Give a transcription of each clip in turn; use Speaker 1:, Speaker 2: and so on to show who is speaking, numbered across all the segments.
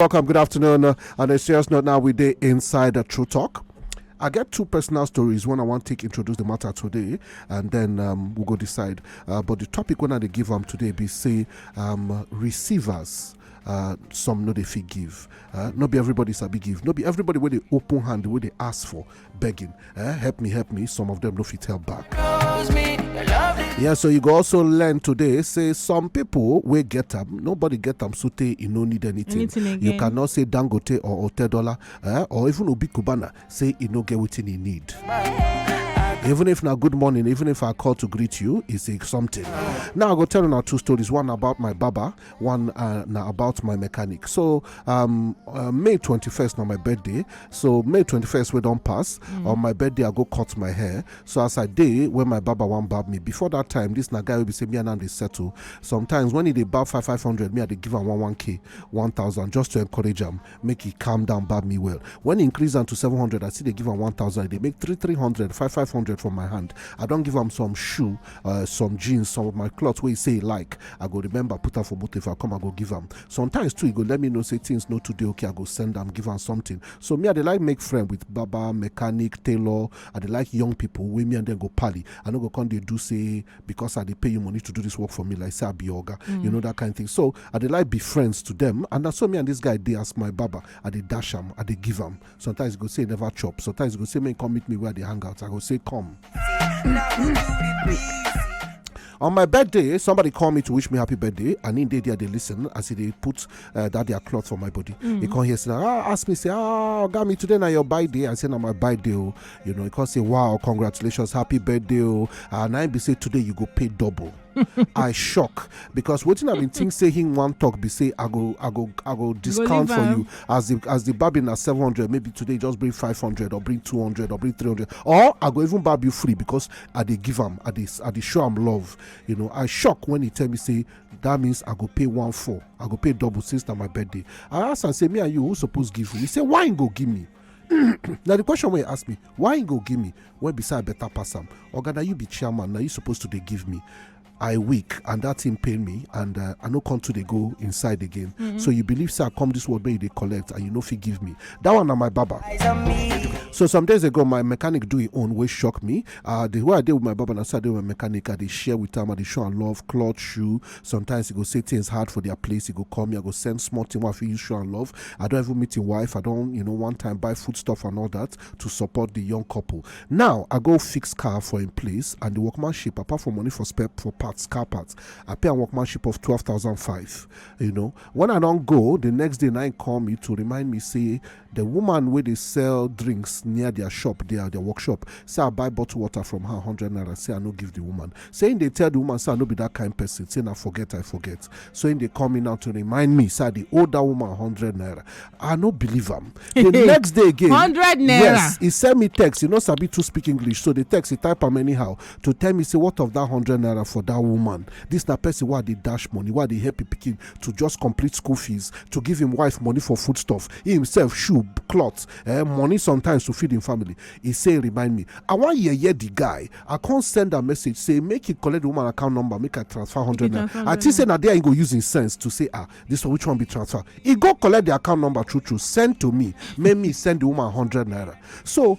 Speaker 1: Welcome, good afternoon. Uh, on a serious note, now we day inside the True Talk. I get two personal stories. One I want to take introduce the matter today, and then um, we'll go decide. Uh, but the topic when I give them today be say um, receivers uh, some no they fit give uh, no be everybody sabi give no be everybody where they open hand where they ask for begging eh help me help me some of them no fit help back yeah so you go also learn today say some people wey get them. nobody get them. so tey e no need anything you cannot say dangote or otedola eh, or even obi cubana say e no get wetin e need even if now good morning even if i call to greet you it's like something now i go tell you now two stories one about my baba one uh, na about my mechanic so um, uh, may 21st na my birthday so may 21st wey don pass mm. on my birthday i go cut my hair so as i dey when my barber wan barb me before that time this na guy wey be say me and am dey settle sometimes when he dey barb five five hundred me i dey give am one one k one thousand just to encourage am make e calm down bab me well when e increase am to 700 i still dey give am 1000 e dey make 3 300 5 500 for my hand i don give am some shoe uh, some jeans some of my cloth wey e say e like i go remember put am for motor if i come i go give am sometimes too e go let me know say things no too dey okay i go send am give am something so me i dey like make friend with barber mechanic tailor i dey like young people wey me and them go pally i no go come dey do say because i dey pay you money to do this work for me like say i be your oga you know that kind thing so I dey like be friends to them, and na so me and this guy dey as my barber. I dey dash am, I dey give am. Sometimes he go say he never chop, sometimes he go say make he come meet me where I dey hang out. I go say come. On my birthday, somebody call me to wish me happy birthday, and in day there they listen as they put uh, that their cloth for my body. Mm. He come here say, ah, ask me say, ah, got me today now your birthday. I say now my birthday, oh. you know. He come say, wow, congratulations, happy birthday, oh. and I be say today you go pay double. i shock because wetin i bin think say him wan talk be say i go i go i go discount for you as the as the babi na seven hundred maybe today just bring five hundred or bring two hundred or bring three hundred or i go even barb you free because i dey give am i dey i dey show am love you know i shock when he tell me say that means i go pay one four i go pay double since na my birthday i ask am say me and you who suppose give you he say why him go give me na the question wey you ask me why you go give me wey be say i better pass am oga na you be chairman na you suppose to dey give me i weak and that thing pain me and uh, i no come to dey go inside again mm-hmm. so you believe say i come this world wey you dey collect and you no fit give me that one na my baba so some days ago my mechanic do him own wey shock me uh, the way i dey with my baba na so i dey with my mechanic i dey share with am i dey show am love cloth shoe sometimes e go say things hard for their place e go call me i go send small thing wey i fit use show am love i don even meet him wife i don you know one time buy food stuff and all that to support the young couple now i go fix car for him place and the workmanship apart from money for spare for parts car parts i pay am workmanship of twelve thousand five you know when i don go the next day na him call me to remind me say The woman wey dey sell drinks near their shop there, their workshop, say I buy bottle water from her hundred naira, say I no give the woman. Say him dey tell the woman say I no be that kind person, say na forget I forget. So him dey call me now to remind me say I dey owe that woman hundred naira. I no believe am. The next day again, hundred naira. Yes, he send me text. He no sabi to speak English, so the text he type am anyhow to tell me say what of that hundred naira for that woman. This na person wey I dey dash money, wey I dey help pikin to just complete school fees to give him wife money for foodstuff he himself shoe cloth eh, money sometimes to feed him family he say remind me i wan yeye the guy i come send am message say make he collect the woman account number make i transfer hundred naira i think say na there he go use him sense to say ah this one which one be transfer he go collect the account number true true send to me make me send the woman hundred naira so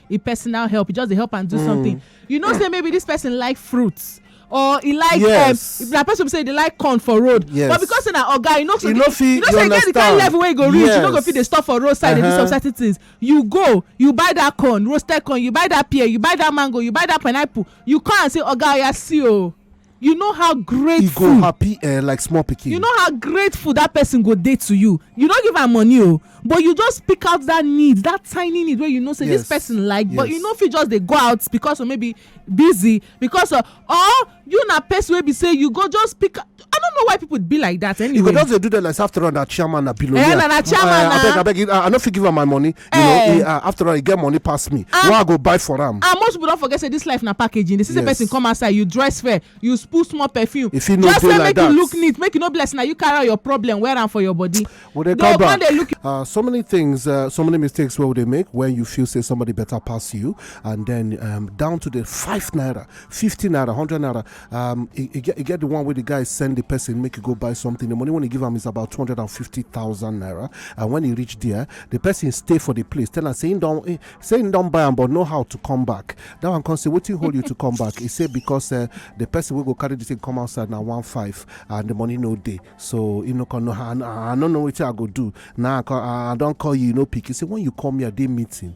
Speaker 1: e personal help e just dey help am do mm. something you know say maybe this person like fruits or e like um, yes. um, na person say e dey like corn for road yes. but because say na oga you know so you know fit you know say get the kind level wey you go reach yes. you no go fit dey stop for road side uh -huh. dey do uh-huh. some certain things you go you buy that corn roasted corn you buy that pear you buy that mango you buy that pineapple you come and say oga oya see o. Oh, you know how e grateful go happy eh like small pikin you know how grateful that person go dey to you you no give am money o but you just pick out that need that tiny need wey you know say this Yes. person like but you Yes. no fit just dey go out because of maybe busy because of or you na person wey be say you go just pick i don't know why people be like that you go anyway just dey do that like say after all na chairman na billionaire Eh, na- na chairman Eh, na. abeg abeg i no fit give am my money you know eh. eh, ah, after all e get money pass me ah. why i go buy for am and ah, most people don forget say this life na packaging the same person come outside you dress fair you put small perfume just say make you look neat make you no be like say na you carry out your problem wear am for your body they go come dey look you. so many things uh, so many mistakes wey we dey make when you feel say somebody better pass you and then um, down to the five naira fifty naira hundred naira um, e, e, get, e get the one where the guy send the person make you go buy something. The money when he give him is about two hundred and fifty thousand naira. And when he reach there, the person stay for the place. Tell him saying don't eh, saying don't buy him, but know how to come back. That one can say what you hold you to come back. He say because uh, the person will go carry the thing come outside now one five and the money no day. So you know can know I, I don't know what I go do now. Nah, I, I don't call you, you no know, pick. He say when you come here, they meeting.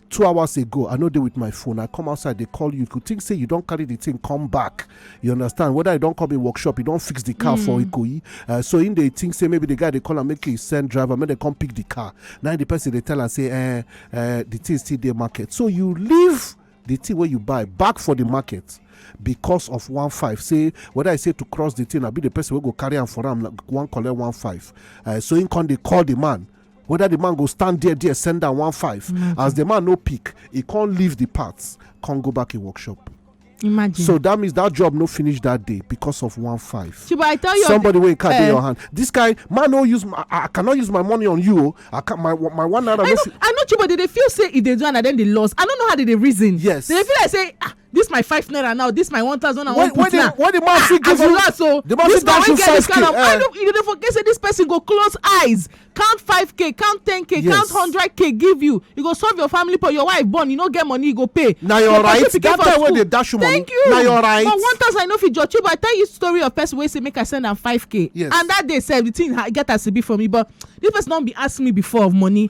Speaker 1: two hours ago i no dey with my phone i come outside dey call you you could think say you don carry the thing come back you understand whether you don come a workshop you don fix the car for hmm. ikoyi uh, so him dey think say maybe the guy dey call am make he send driver make dem come pick the car na the person dey tell am say eh, eh, the thing still dey market so you leave the thing wey you buy back for the market because of one five say whether i say to cross the thing abi the person wey go carry am for am one collect one five uh, so him come dey call the man whether the man go stand there there send am one five mm-hmm. as the man no pick he can't leave the parts can't go back in workshop imagine so that means that job no finish that day because of one five chiba i tell you somebody wey card dey eh. your hand this guy man no use my i cannot use my money on you oh. i can my my one naira no fit i know chiba dey dey feel say e dey do and i then dey loss i no know how dey dey reason yes dey feel like say ah this my five naira now this my one thousand and one put now when the man fit ah, give you as so the man fit dash you five k i no you dey forget say this person go close eyes count five k count ten k count hundred k give you you go solve your family problem your wife born you no get money you go pay na your right that time wey dey dash you money thank you na your right but one thousand i no fit judge you but i tell you story of person wey say make i send am five k yes and that day sef the thing get as e be for me but this person don be ask me before of money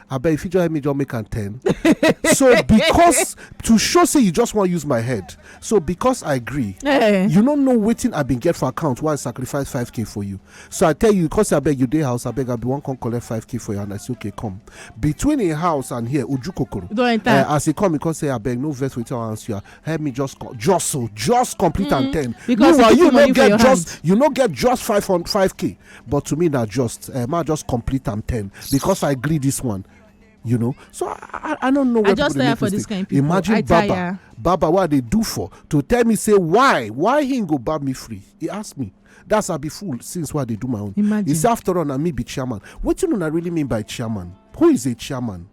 Speaker 1: abeg you fit just help me just make am ten so because to show say you just wan use my head so because i gree eh. you no know wetin i bin get for account why i sacrifice 5k for you so i tell you because abeg you dey house abeg i bin wan come collect 5k for you and i say okay come between im house and here uju kokoro eh, as e come e come say abeg no vex wetin i answer you help me just just so just complete am mm-hmm. ten meanwhile you no get just you no get just 5 k but to me na just uh, ma just complete am ten because i gree this one you know so i i don't know where I just people dey for this kind people imagine I baba tire. baba what they do for to tell me say why why he go bab me free he ask me that's i be fool since why they do my own imagine he say after all na me be chairman wetin una really mean by chairman who is a chairman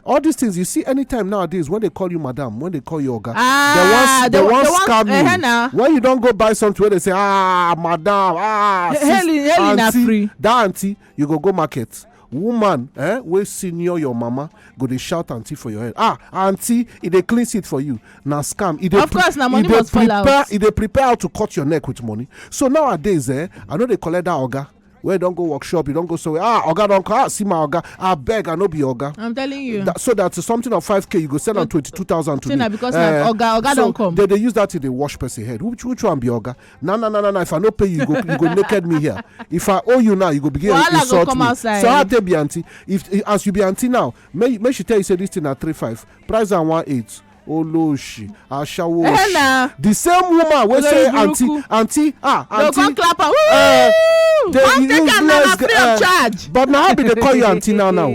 Speaker 1: all these things you see anytime nowadays when they call you madam when they call you oga ah, they wan scam you uh, when you don go buy something wey dey say ah madam ah sis aunty that aunty you go go market woman eh, wey senior your mama go dey shout aunty for your head ah aunty e dey clean seat for you na scam e dey of course na money must fall out e dey prepare how to cut your neck with money so nowadays eh i no dey collect that oga wey don go workshop you don go somewhere ah oga don come ah see my oga abeg i no be oga i'm telling you that, so that something of 5k you go sell am 22000 to me because uh, oga oga so don come they dey use that to dey wash person head which which one be oga na na na na if i no pay you you go you go naked me here if i owe you now you go begin Wahala insult go me outside. so how take be aunty if as you be aunty now make make she tell you say this thing na three five price am one eight olóòṣì aṣáwó eh, òṣì the same woman wey say aunty aunty ah aunty no go clap am eh, dey use less free of eh, charge but na how be dey call you aunty now now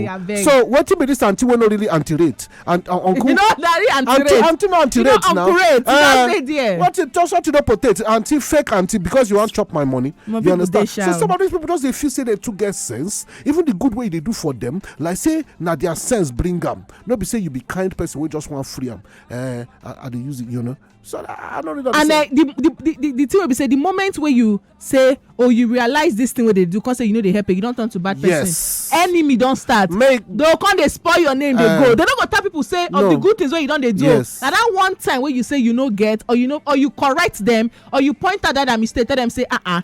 Speaker 1: so wetin be this aunty wey no really aunty rate and uh, uncle you know dari aunty rate aunty no aunty rate now what you just want to know potato aunty fake aunty because you wan chop my money you understand so some of these people just dey feel say they too get sense even the good wey you dey do for them like say na their sense bring am no be say you be kind person wey just wan free am eh i dey use it you know so i no really understand. and eh, the the the the thing wey be say the moment wey you say oh you realize this thing wey dey do come say you no dey help you don turn to bad person yes enemy don start make they go come dey spoil your name dey eh. go they no go tell people say of the good things wey you don dey do yes na that one time wey you say you no get or you no or you correct them or you point out that mistake tell them say ah ah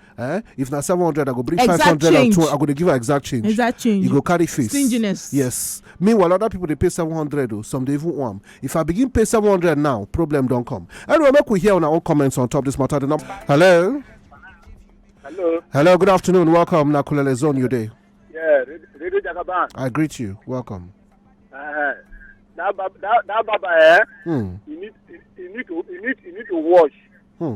Speaker 1: eh if na seven hundred i go bring five hundred and two i go dey give her exact change exact change you go carry face stinginess yes meanwhile other people dey pay seven hundred o oh, some dey even warm if i begin pay seven hundred now problem don come anyway make we hear una own comments on top this matter the number hello. hello. hello good afternoon welcome na kulele zone you dey. yeah radio jagaban. i greet you welcome. Uh, that baba that, that baba eh. Hmm. he need he, he need to he need he need to wash. Hmm.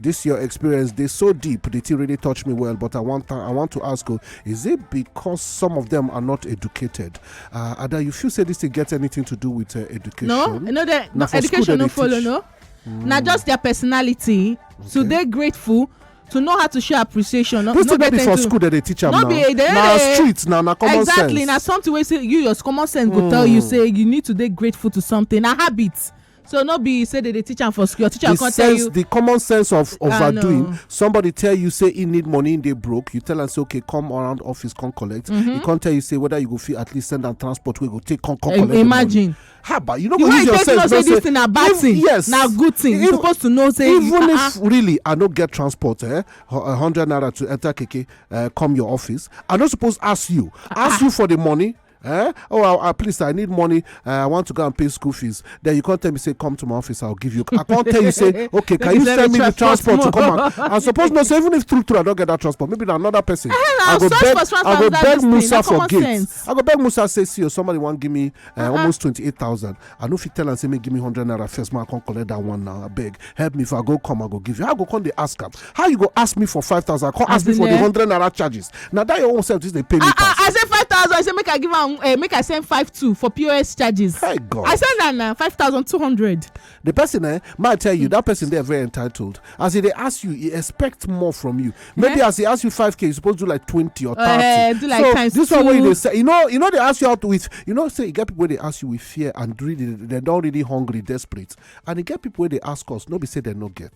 Speaker 1: this your experience they so deep the thing really touched me well but i want i want to ask you is it because some of them are not educated uh ada you feel say this thing get anything to do with uh, education no no they, no, education no follow teach. no mm. na just their personality okay. so they grateful to know how to show appreciation. This no, no be for school that they teach am now. Be, they, na street na na common exactly, sense. Exactly na something wey say you your common sense mm. go tell you hmm. say you need to dey grateful to something na habit. so no be say they dey teach am for school your teacher come tell you the common sense of overdoing somebody tell you say he need money he dey broke you tell am say okay come around office come collect he mm-hmm. come tell you say whether you go fit at least send am transport wey go take come come collect imagine haba you no go use your sense know say this thing na bad thing yes na good thing you suppose to know say even if ah, ah. really i no get transport eh hundred naira to enter keke eh, come your office i no suppose ask you ah, ask you for the money eh oh I, I, please i need money uh, i want to go and pay school fees then you come tell me say come to my office i'll give you i can't tell you say okay can you send me the transport to come out i suppose not say even if true true i don't get that transport maybe na another person i go beg i go beg musa for gate i go beg musa say see o oh, somebody wan give me uh, uh-huh. almost twenty eight thousand i no fit tell am say make give me hundred naira first man come collect that one now abeg help me if i go come i go give you i go come dey ask am how you go ask me for five thousand come ask me for the eh? hundred naira charges na that your own self just dey pay me ah, ah, pass. i say five thousand i say make i give am eh, make i send five two for pos charges. hey god i send am na five thousand two hundred. the person eh ma tell you that person dey very entitled as e dey ask you e expect more from you maybe as e ask you 5k you suppose do like 20 or 30 eh, do like times so this one wey you dey say you know you know dey ask you out with you know say e get people wey dey ask you with fear and really dem don really hungry desperate and e get people wey dey ask us no be say dem no get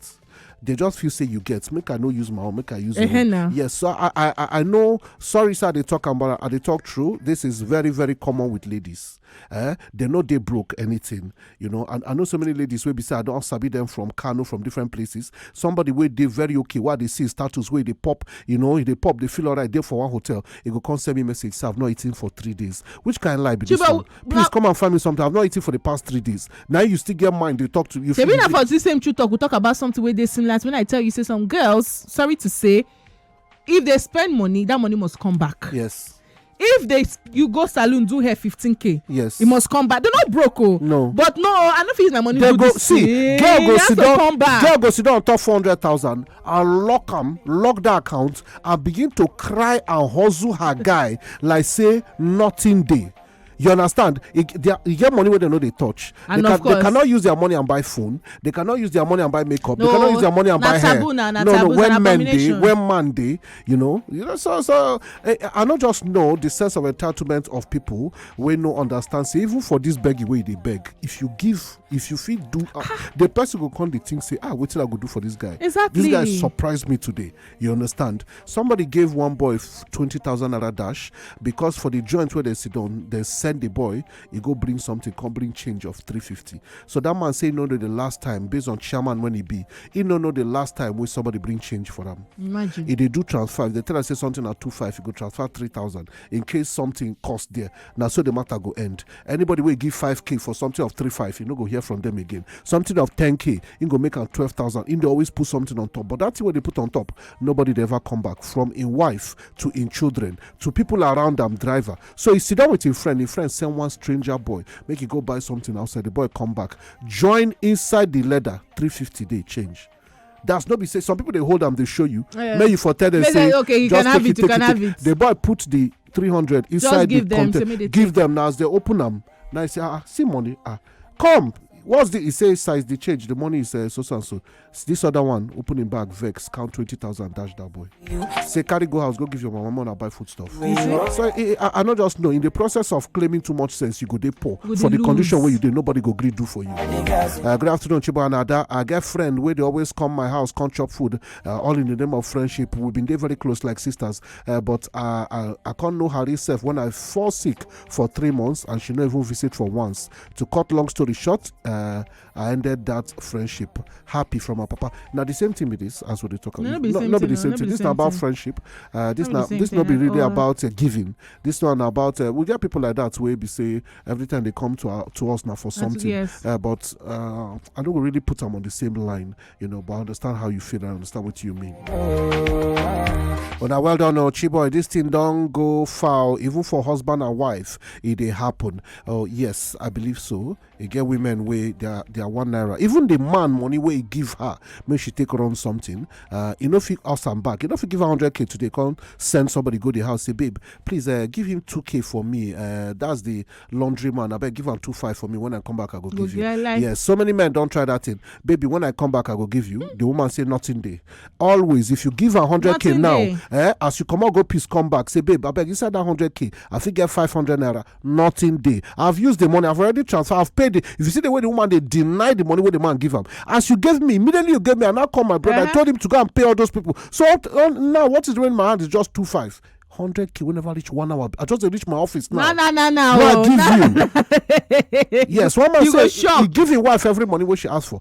Speaker 1: they just feel say you get make i no use my own make i use uh-huh, your own yes so i i i know sorry sir they talk about i they talk true this is very very common with ladies eh dem no dey broke anything you know and i know so many ladies wey be say i don sabi them from kano from different places somebody wey dey very okay wey i dey see his status wey dey pop you know he dey pop dey feel alright dey for one hotel he go come send me message say i've not eaten for three days which kind of lie be this Chiba, one please na- come and find me something i've not eaten for the past three days now you still get mind dey talk to you shebi na for this same true talk we talk about something wey dey similar to when i tell you say some girls sorry to say if they spend money that money must come back yes if they you go saloon do hair 15k yes e must come back they no broke o oh. no but no i no fit use my money do this see girl go sit down girl go sit down on top four hundred thousand and lock am lock that account and begin to cry and hustle her guy like say nothing dey you understand e get money wey dem no dey touch they cannot use their money and buy phone they cannot use their money and buy makeup they cannot use their money and buy hair no no when men dey when man dey you know you know so so eh, eh, i no just know the sense of entitlement of people wey no understand say even for this begging wey you dey beg if you give if you fit do ah, ah. the person go come dey think say ah wetin i go do for this guy exactly this guy surprise me today you understand somebody gave one boy 20000 naira dash because for the joint where they sit down they send the boy he go bring something come bring change of 350 so that man say no know the last time based on chairman when he be he no know the last time when somebody bring change for them. imagine if they do transfer if they tell us say something at 25 you go transfer 3000 in case something cost there na so the matter go end anybody wey give 5k for something of 35 you no go hear from them again something of 10k he go make am 12000 he dey always put something on top but that thing wey dey put on top nobody dey ever come back from im wife to im children to people around am driver so he sit down with im friend im friend send one stranger boy make he go buy something outside the boy come back join inside the leather 350 dey change that's not be say some people they hold them they show you yeah. may you for tell them say okay you just can have it, it you can it, have it, it. the boy put the 300 inside the them, container give take. them now as they open them now he say ah see money ah come what's the he say size the change the money is uh, so and so this other one opening bag vex count 20000 dash that boy say carry go house go give your mama money buy food stuff so eh, eh, i no just know in the process of claiming too much sense you go dey poor for the condition wey you dey nobody go gree do for you uh, good afternoon chibo and ada i get friend wey dey always come my house come chop food uh, all in the name of friendship we been dey very close like sisters uh, but i i i con know her sef when i fall sick for three months and she no even visit for once to cut long story short I ended that friendship happy from my papa. Now the same thing with this as we dey talk No, no be the same not be thing, the no, same no be thing. the This same not about thing. friendship. Uh, this No be the not same this thing not be at really all. about uh, giving. This one about uh, we get people like that where be say every time they come to our, to us now for something. yes. Uh, but uh, I don't really put them on the same line, you know. But I understand how you feel. I understand what you mean. But now, well done, oh, Chiboy. This thing don't go foul, even for husband and wife. It they happen. Oh yes, I believe so. e get women wey their their one naira even the man money wey he give her make she take run something uh, e no fit house am back e no fit give her hundred k today come send somebody go the house say babe please uh, give him two k for me uh, that's the laundry man abeg give am two five for me when i come back i go give you like... yes so many men don try that thing baby when i come back i go give you the woman say nothing dey always if you give her hundred k now eh, as you comot go peace come back say babe abeg inside that hundred k i fit get five hundred naira nothing dey i've used the money i've already transfer i've paid it if you see the way the woman dey deny the money wey the man give am as you gave me immediately you gave me i now call my brother i told him to go and pay all those people so up to- uh, now what is remaining in my hand is just two five hundred k wey never reach one hour i just dey reach my office now na na na na Now I oh, give na- you. yes one man You go say he shock. give him wife every money wey she ask for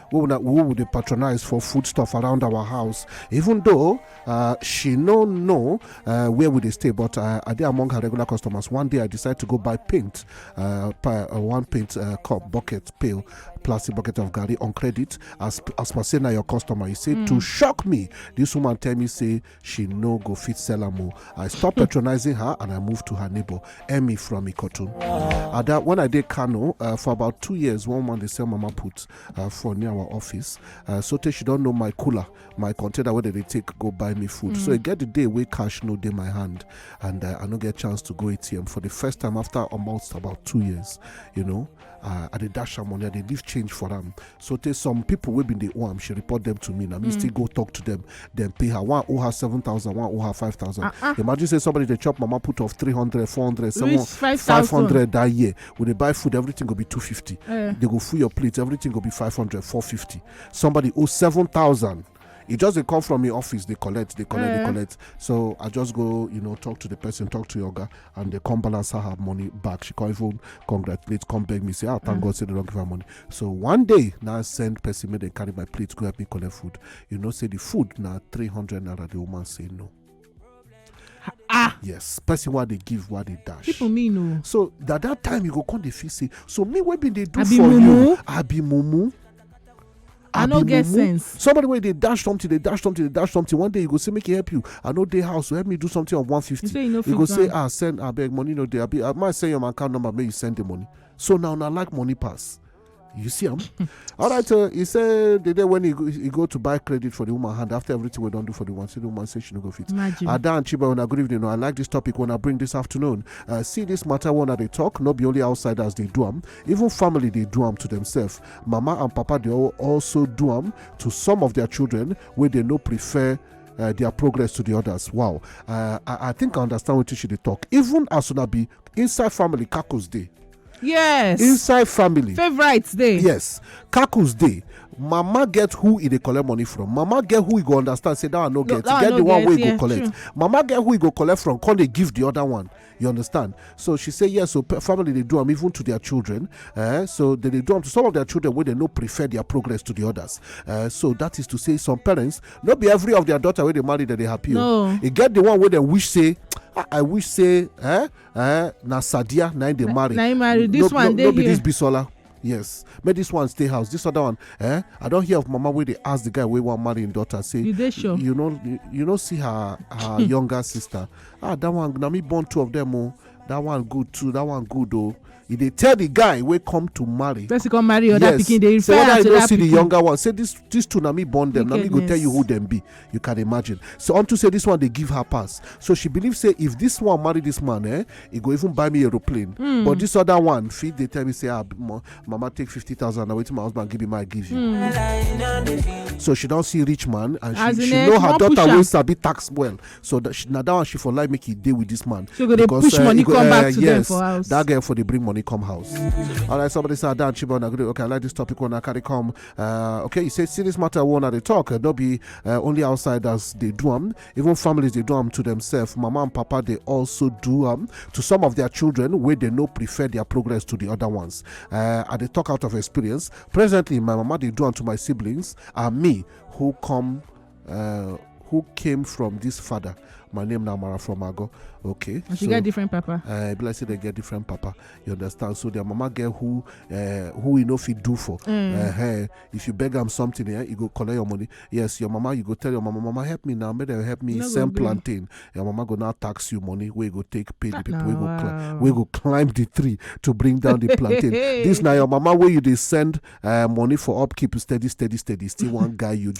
Speaker 1: wey una who we dey patronize for food stuff around our house even though uh, she no know uh, where we dey stay but uh, i dey among her regular customers one day i decide to go buy paint uh, pa- uh, one paint uh, cup bucket pail plastic bucket of garri on credit as as per say na your customer you say to shock me this woman tell me say she no go fit sell am o i stop hmm. patronizing her and i move to her neighbor emmy from ikotun ada when i dey kano uh, for about two years one man dey sell mama put uh, for near our office uh, so tey she don know my cooler my container wey dem dey take go buy me food so e hmm. get the day wey cash no dey my hand and i no get chance to go atm for the first time after almost about two years you know uh, i dey dash am money i dey leave change for am so tey some people wey bin dey owe am she report them to me na me still go talk to them then pay her one owe her seven thousand one owe her five thousand Uh-uh. imagine say somebody dey chop mama put of three hundred four hundred seven Reach 5,000. five hundred that year we dey buy food everything go be two fifty Eh. they go full your plate everything go be five hundred four fifty somebody owe seven thousand e just dey come from im office dey collect dey collect dey mm. collect so i just go you know talk to the person talk to yoga and they come balance her her money back she come even congratulate come beg me say ah thank mm. god say they don give her money so one day na send person make dem carry my plate go help me collect food you know say the food na three hundred naira the woman say no ah yes person wey dey give wey dey dash people mean o oh. so that that time you go come dey feel say so me wey bin dey do for you i be mumu i no get sense somebody wey dey dash something dey dash something dey dash something one day you go say make e help you i no dey house so help me do something of 150 you go say ah send abeg money no dey abi i might send your account number make you send the money so now na like money pass you see am all right uh, he say the day when he go, he go to buy credit for the woman hand after everything we don do for the woman say the woman say she no go fit ada and chiba una good evening i like this topic una bring this afternoon uh, see this matter one dey talk no be only outsiders dey do am even family dey do am to themselves mama and papa dey also do am to some of their children wey dey no prefer uh, their progress to the others. Wow. Uh, I, I, think I understand what she dey talk. Even as una be inside family kakus dey yes inside family favorites dey yes kakus dey mama get who e dey collect money from mama get who e go understand say that one no get e get the one wey e go collect mama get who e go collect from come dey give the other one you understand so she say yes so family dey do am even to their children eh, so they dey do am to some of their children wey dey no prefer their progress to the others eh, so that is to say some parents no be every of their daughter wey dey marry dem dey happy o e get the one wey dem wish say ah, i wish say eh eh na sadia na im dey marry na im marry this one dey here no be this bisola yes make this one stay house this other one eh i don hear of mama wey dey ask the guy wey wan marry im daughter say you dey sure you no you no see her her younger sister ah that one na me born two of them o oh. that one good too that one good o e dey tell the guy wey come to marry person come marry other pikin dey refer am to that pikin say whether you no see the younger one say this this two na me born them na me go tell you who dem be you can imagine so unto say this one dey give her pass so she believe say if this one marry this man eh e go even buy me aeroplane hmm. but this other one fit dey tell me say ah mama take fifty thousand na wetin my husband give me ma give you hmm. so she don see rich man and she she know her daughter wey sabi tax well so that she, na that one she for like make e dey with this man. So go dey because, push uh, money go, come uh, back to yes, them for house. That girl for dey bring money come house. All right, somebody say Adan Chibon agree. Okay, I like this topic when I carry come. Uh, okay, you say see this matter one at the talk. Uh, no be uh, only outsiders they do them. Even families they do them to themselves. Mama and Papa they also do them to some of their children where they no prefer their progress to the other ones. Uh, I they talk out of experience. Presently, my mama they do them to my siblings and me who come Uh, who came from this father? My name now Mara from Ago. Okay. And she so, get different papa. Uh, be like say they get different papa. You understand? So their mama get who uh, who you know if you do for. Mm. Uh, hey, if you beg them something, yeah, you go collect your money. Yes, your mama, you go tell your mama, mama help me now, make them help me no sell plantain. Your mama go now tax you money. We go take pay the ah, people. No, we go wow. climb, we go climb the tree to bring down the plantain. this now your mama where you they send uh, money for upkeep steady, steady, steady. Still one guy you join.